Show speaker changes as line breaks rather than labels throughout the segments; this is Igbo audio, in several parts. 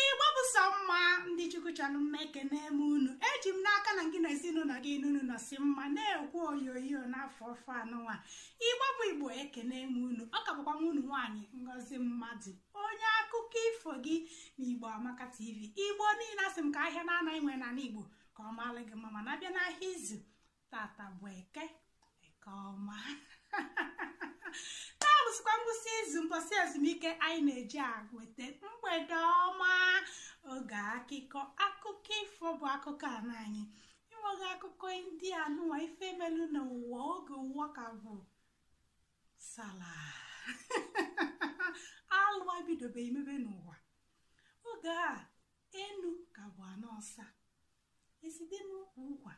igbo bụ sọ mma ndị chukwu chọrọ mma ekene m unu eji m n'aka na gị na ezinụlọ gị n'unu nọsi mma na-ekwu oyoyo n'afọ ọfụụ anụnwa igbo bụ igbo ekene m unu ọ ka bụkwa nwanne unu nwaanyị ngozi mmadụ onye akụkọ ifo gị na igbo amaka tv igbo niile asị m ka ahịa naanọ anyị nwere n'ala igbo ka ọ maalụ gị mma mana a bịa n'ahịa izu tata bụ eke eke ọma taa bụsịkwa ngwụsị izu mbọsị ezumike anyị na-eji ewete mgbede ọma oge akụkọ akụkọ ifo bụ akụkọ ala anyị inweghị akụkọ ndị anụwa ife melu n'ụwa oge ụwa ka bụ salaa alụ abidobe imebe n'ụwa oge a enu ka bụ ana ọsa ezi dị n'ukwu ụkwa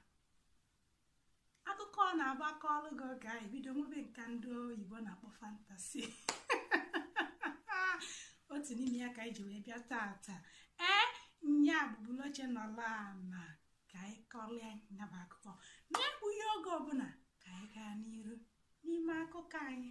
akụkọ ọ na-abụ a kọọlụ gị oge anyị bido nwebe nke ndị oyibo na-akpọ fantasy otu n'ime ya ka anyị ji wee bịa tata ee nya bụ bulu oche nọlụ ana ka anyị kọrịa nya bụ akụkọ n'egbughi oge ọbụla ka anyị gaa n'iru n'ime akụkọ anyị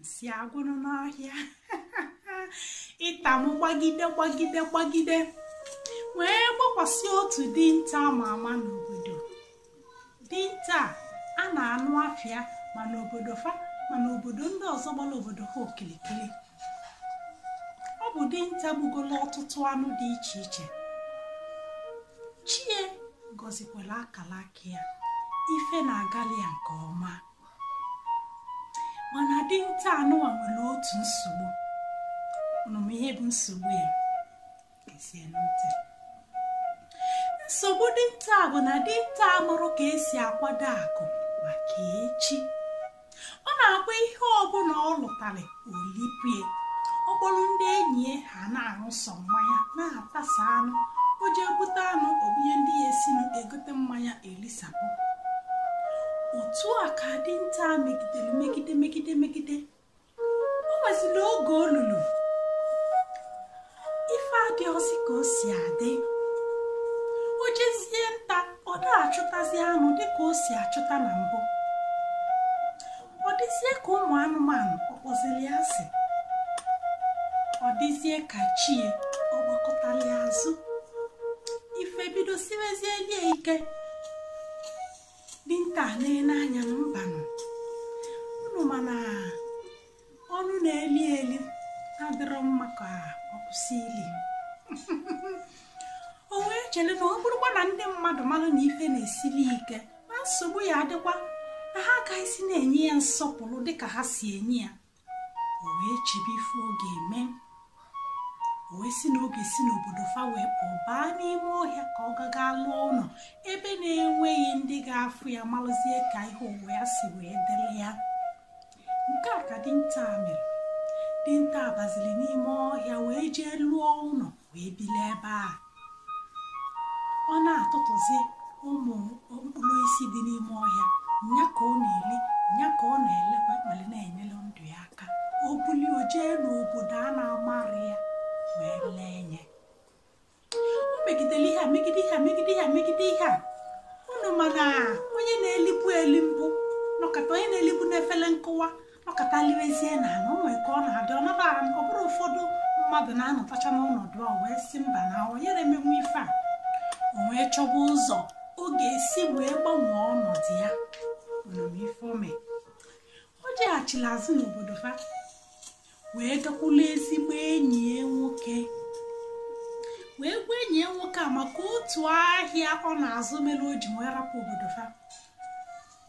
nsị agwụnụ n'ọhịa ịta m gbagide gbagide gbagide wee gbakwasị otu dinta ama ama n'obodo dinta a na-anụ afa ya ma n'obodo fa ma n'obodo ndị ọzọ gbara obodo ha okirikiri ọ bụ dinta gbugolu ọtụtụ anụ dị iche iche chi ya gọzikwara akala aka ya ife na-agali ya nke ọma mana dinta anụwa nwere otu nsogbu unu ma ihe bụ nsogbu ya gezienụ ntị nsogbu dinta bụ na dinta amụrọ ka e si akwado akụ maka echi ọ na-akwa ihe ọbụla ọ lụtara o lie ọ kpọrọ ndị enyi ya ha na-aṅụ sọ mmanya na-atasa anụ o ji ebute anụ o bunye ndị ya esinụ egote mmanya elisapụ otu a ka dinta megidere megide megide megide o nweziri oge o lulu ife adịrọzi ka o si adị o jezie nta ọ da-achụtazi anụ dịka o si achụta na mbụ ọ dịzie ka ụmụ anụmanụ ọ kpọzili ya asị ọ dịzie ka chi ya ọ gbakụtali ya azụ ife bido siwezieli ya ike dinta na-ele anya na mbanụ unu mana ọnụ na-eli eli adịrọ mma ka ọ kwụsị ili o wee chere na ọ bụrụkwa na ndị mmadụ mara na ife na-esili ike na nsogbu ya-adịkwa na ha agaghịzi na-enye ya nsọpụrụ dịka ha si enye ya o wee chebe ife ọ ga-eme o wee sị na ọ ga-esi n'obodo fa wee pụọ baa n'ime ọhịa ka ọ gaga lụọ ụnọ ebe na-enweghị ndị ga-afụ ya malụzie ka ihe ụwa ya si wee dịrị ya nke a ka dinta a mere dinta a bazili n'ime ọhịa wee jee lụọ ụnọ wee bili ebe a ọ na-atụtụzi ụmụ mkpụrụ osisi dị n'ime ọhịa nya ka ọ na-eli nya ka ọ na-elekwa welu na-enyere ndụ ya aka o buli o jee n'obodo a na-amarọ ya wee lee nya o megidere ihe a megide ihe a megide ihe a megide ihe a unu ma na onye na-elibu eli mbụ nọkata onye na-elibu n'efele nkụwa nọkata liwezie n'ana o nwere ka ọ na-adị ọ na-abụ ọ bụrụ ụfọdụ mmadụ na-anọtacha n'ọnọdụ a o wee sị mba na ọ yarọ emenwu ife a o wee chọba ụzọ ọ ga-esi wee gbanwee ọnọdụ ya unu ma ife o me o jeghachili azụ n'obodo fa wee gakwula ezigbo enyi ya nwoke wee gwa enyi ya nwoke a maka otu ahịa ọ na-azụ mere o ji wee rapụ obodo fa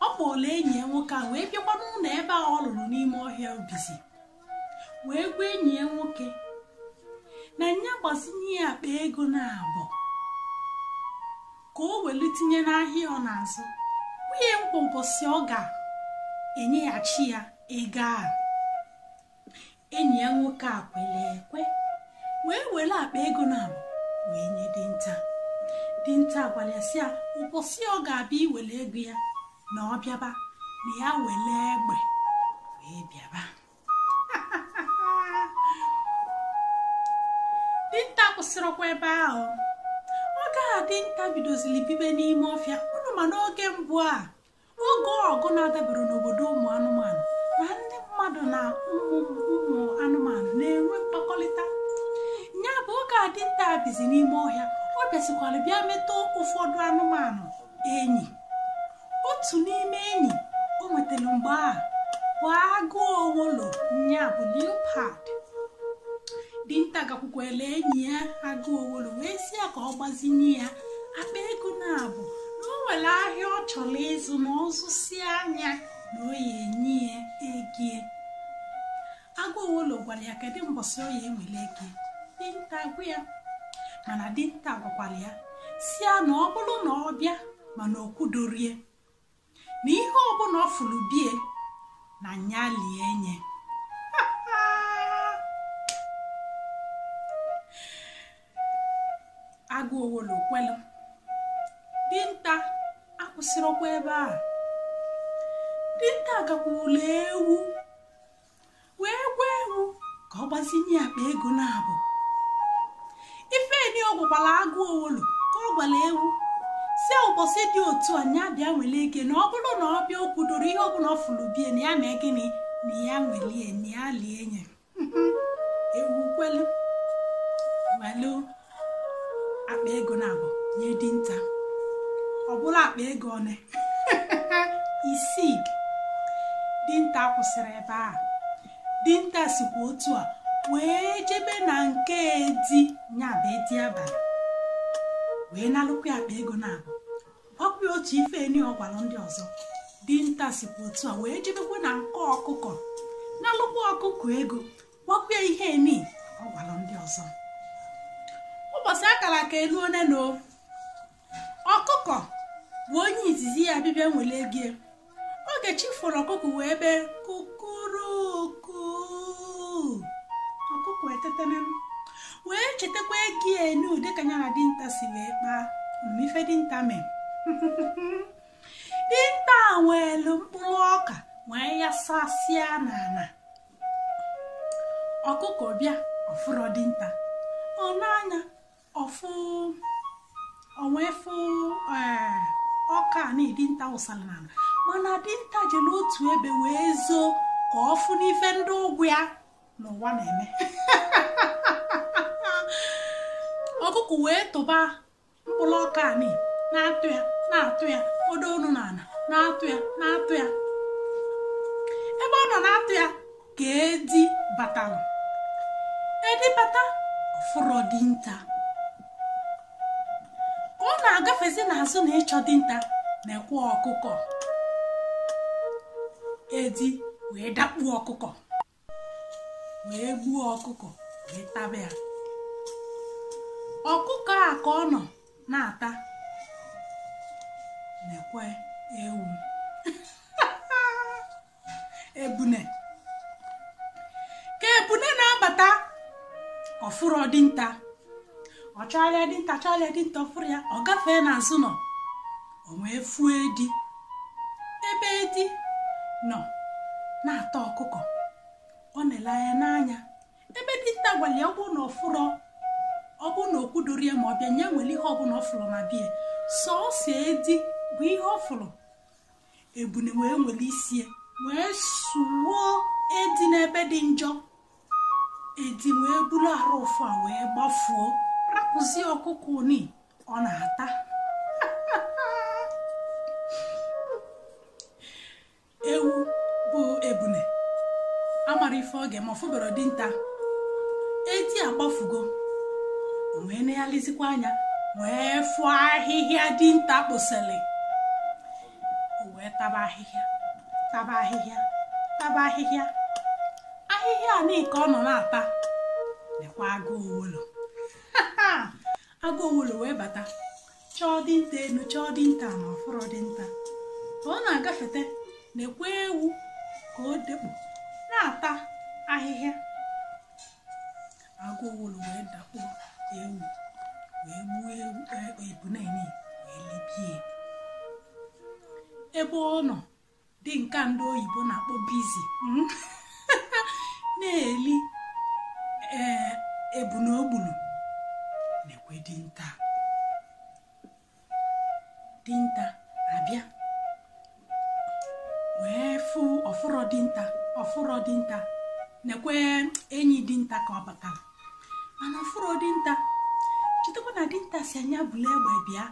ọ kpọlụ enyi ya nwoke a wee bịakwa n'ụnọ ebe a ọ lụrụ n'ime ọhịa o bizi wee gwa enyi ya nwoke na nya gbazinye ya akpa ego naabọ ka o welu tinye n'ahịa ọ na-azụ wee nye ya ụbọsị ọ ga-enyeghachi ya ego a enyi ya nwoke a kwere ekwe wee were akpa ego naabọ wee nye dinta dinta gwara ya sị ya ụbọsị ọ ga-abịa iwere ego ya na ọ bịaba na ya wele egbe wee bịaba dinta akwụsịrọkwa ebe ahụ oge a dinta bidoziri bibe n'ime ọfịa unu ma n'oge mbụ a oge ọgụ na-adaberọ n'obodo ụmụ anụmanụ na ndị mmadụ na ụmụ ụmụ anụmanụ na-enwe mkpakọrịta ya bụ oge a dinta bizi n'ime ọhịa ọ bịazikwara bịa meta ụfọdụ anụmanụ enyi otu n'ime enyi o nwetara mgbe a bụ agụ owulu nya bụ leopard dinta gakwukwere enyi ya agụ owulu wee sị ya ka ọ gbazinye ya akpa ego naabọ na o nwere ahịa ọ chọrọ ịzụ na ọ zụsịa nya na ọ ya-enye ya ego ya agụ owolo gwara ya kedu mbọsị ọ ya enwele ego ya dinta agwa ya mana dinta gwakwara ya si ya na ọ bụrụ na ọ bịa mana o kwudoro ya na ihe ọbụla ọ fụrụ be ya na nya lie enye agụ owolo kwelụ dinta akwụsịrọkwa ebe a dinta agakwuru ewu wee gwa ewu ka ọ gbazinye akpa ego naabọ ife ni ọ gwara agụ owolo ka ọ gwara ewu si ụbọchị dị otu a ya bịa nwere ego ya na ọ bụrụ na ọ bịa o kwudoro ihe ọbụla ọ fụrụ be ya na ya mee gịnị na ya nwelie na ya lie nye ewu kwelu welu akpa ego naabọ nye dinta ọ bụlụ akpa ego one isii dinta akwụsịrọ ebe a dinta sikwa otu a wee jebe na nke edi ya bụ edi abalị wee nalụkwa akpa ego naabọ ọkwa otu ife ni ọ gwara ndị ọzọ dinta sikwa otu a wee jebekwa na nke ọkụkọ nalụkwa ọkụkọ ego gwakwa ihe ni ọ gwara ndị ọzọ ụbọchị a kara aka eluone na ọkụkọ bụ onye izizi ya bịbịa nwere ego ya oge chi foro ọkụkọ wee bee kukuruku ọkụkọ etetena wee chetakwa ego ya enu dịka ya na dinta si wee kpaa ife dinta mee dinta ewelu mkpụrụ ọka wee yasasịa n'ala ọkụkọ bịa ọ fụrọ dinta o nee anya ọ fụ o wee fụ eh, ọka ni dinta wụsara n'ala mana dinta jere otu ebe wee zoo ka ọ fụ n'ife ndị ụgwọ ya n'ụwa na-eme ọkụkọ wee tụba mkpụrụ ọka ni na-atụ ya na-atụ ya kpodo ọnụ na ala na-atụ ya na-atụ ya ebe ọ nọ na-atụ ya ka edi batara edi bata ọ fụrọ dinta ka ọ na-agafezi n'azụ ụnọ ịchọ dinta nekwe ọkụkọ edi wee dakpuo ọkụkọ wee gbuo ọkụkọ wee taba ya ọkụkọ a ka ọ nọ na-ata nekwe ewu ebune ka ebune na-abata ọ fụrọ dinta ọ chọrịa dinta chọrịa dinta ọ fụrọ ya ọ gafee n'azụ ụnọ o wee fụọ edi ebe edi nọ na-ata ọkụkọ ọ na-ele anya n'anya ebe dinta gwara ya ọ bụrụ na ọ fụrọ ọ bụrụ na o kwudoro ya ma ọ bịa nya were ihe ọbụla ọ fụrụ na bie sọọsọ edi bụ ihe ọ fụrụ ebune wee were isie wee suo edi n'ebe dị njọ edi wee buru arụ ụfụ a wee gbafuo rapụzie ọkụkọ ni ọ na-ata ewu bụ ebune amara ife oge ma ọ fụbarọ dinta edi agbafugo o wee na-elizikwa anya wee fụọ ahịhịa dinta kposịrị o wee taba ahịhịa taba ahịhịa taba ahịhịa ahịhịa ni ka ọ nọ na-ata nekwa agụ owulu agụ owulu wee bata chọọ dinta enu chọọ dinta ana ọ fụrọ dinta ka ọ na-agafete nekwe ewu ka o dekpu na-ata ahịhịa agụ owulu wee dakpo ewu wee gbuo ewu e- ebune ni wee libie ebe ọ nọ dị nke ndị oyibo na-akpọ busy hmm? na-eli ee ebune o gbulu nekwe dinta dinta abịa wee fụ ọ fụrọ dinta ọ fụrọ dinta nekwe enyi dinta ka ọ batara mana ọ fụrọ dinta chetakwa na dinta sị nya bulu egbe bịa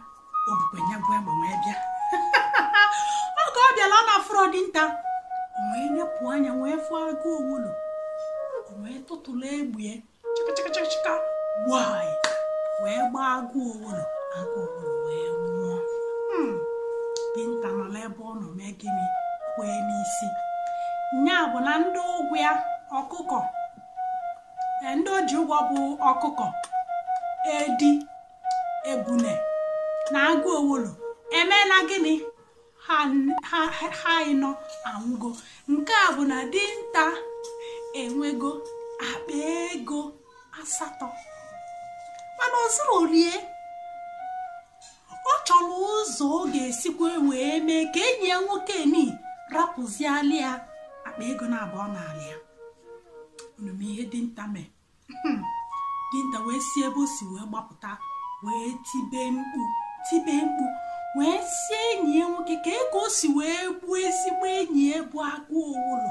o bukwa nya bụ egbe wee bịa oge ọ bịala ọ na-afụrọ dinta o wee nepụ anya wee fụọ agụ owulu o wee tụtụrụ egbie chịkachịkachịka gbaa wee gbaa agụ owulu agụ owulu wee nwụọ Hmm. dinta nọ n'ebe ọ nọ mee gịnị kwee n'isi nya bụ na ndị ụgwọ ya ọkụkọ e, ndị o ji ụgwọ bụ ọkụkọ edi ebune na agụ owulu emeela gịnị ha ịnọ anwụgo nke a bụ na dinta enwego akpa ego asatọ mana o zurọlie ọ chọrọ ụzọ ọ ga-esikwa wee mee ka enyi ya nwoke ni rapụziali ya akpa ego naabọ ọ nalụ ya unu ma ihe dinta mee hmm. dinta wee si ebe o si wee gbapụta wee tibe mkpu tibe mkpu wee sị enyi ya nwoke kee ka o si wee gbuo ezigbo enyi ya bụ agụ owulu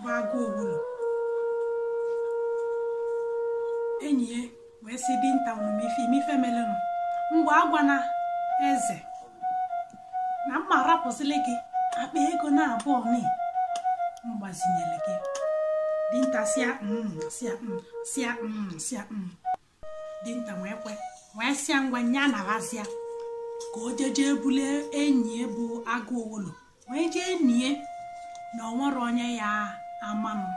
gbago ogbulu enyi ya wee sị dinta ọ ma ife ime ife melenụ ngwa agwana eze na m ma-arapụzili gị akpa ego naabọ nị m gbazinyere gị dinta sịa mm sịa mm sịa mm sịa mm dinta wee kwe wee sịa ngwa nya nabazịa ka o jeje bulu enyi ya bụ agụ owolo wee jee nie na o nwerọ onye ya-ama nụ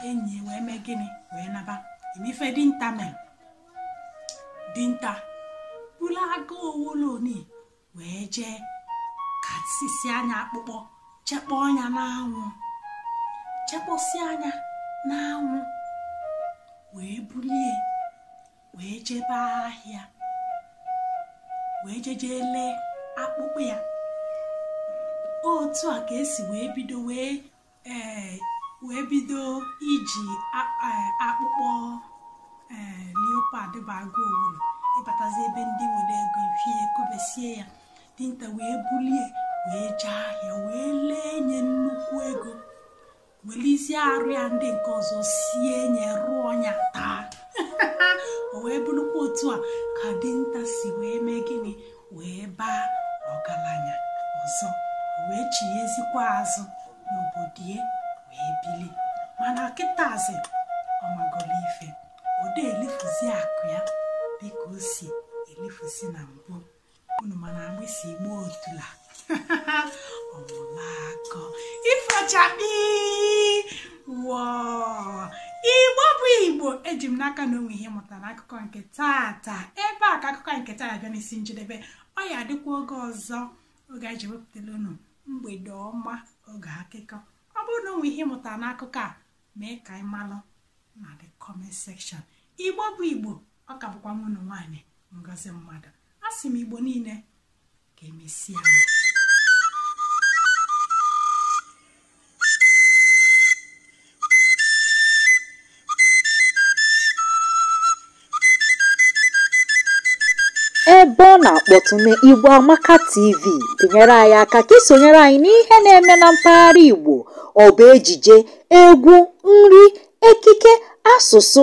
enyi ya wee mee gịnị wee naba ị ma ife dinta mere dinta bulu agụ owolo nị wee jee kasịsịa nya akpụkpọ chekpoo nya n'anwụ chekposia nya n'anwụ wee bulie wee jebe ahịa wee jeje lee akpụkpọ ya otu a ka e si wee bido wee ee wee bido iji akpụkpọ ee leopard bụ agụ owuru ị batazi ebe ndị nwere ego ị fụ e kobesie ya dinta wee bulie wee jee ahịa wee lee nya nnukwu ego welizie arụ ya ndị nke ọzọ sie nya rụọ ya taa o wee bụrụkwa otu a ka dinta si wee mee gịnị wee baa ọgaranya ọzọ wee chighazikwa azụ n'obodo ya wee bili mana kịtazi ọ magolu ife ọ dị elifuzi akụ ya dịka o si elifuzi na mbụ unu ma na agbịsị gba otula ọ mụlụ akọ ifo chakpii wọọ igbo bụ igbo eji m n'aka na o nwe ihe ị mụtara n'akụkọ nke taata ebe a ka akụkọ nke taa bịa n'isi njedebe ọ ya-adịkwa oge ọzọ oge anyị ji wepụtara unu mgbede ọma oge akụkọ ọ bụrụ na o nwe ihe ị mụtara n'akụkọ a mee ka anyị malụ na the comment section igbo bụ igbo ọ ka bụkwa nwa unu nwaanyị ngozi mmadụ a sị m igbo niile ka emesịa ebe ọ na-akpọtụ na Igbo Amaka TV nyere anyị aka ka i sonyere anyị n'ihe na-eme na mpaghara Igbo ọ bụ ejije egwu nri ekike asụsụ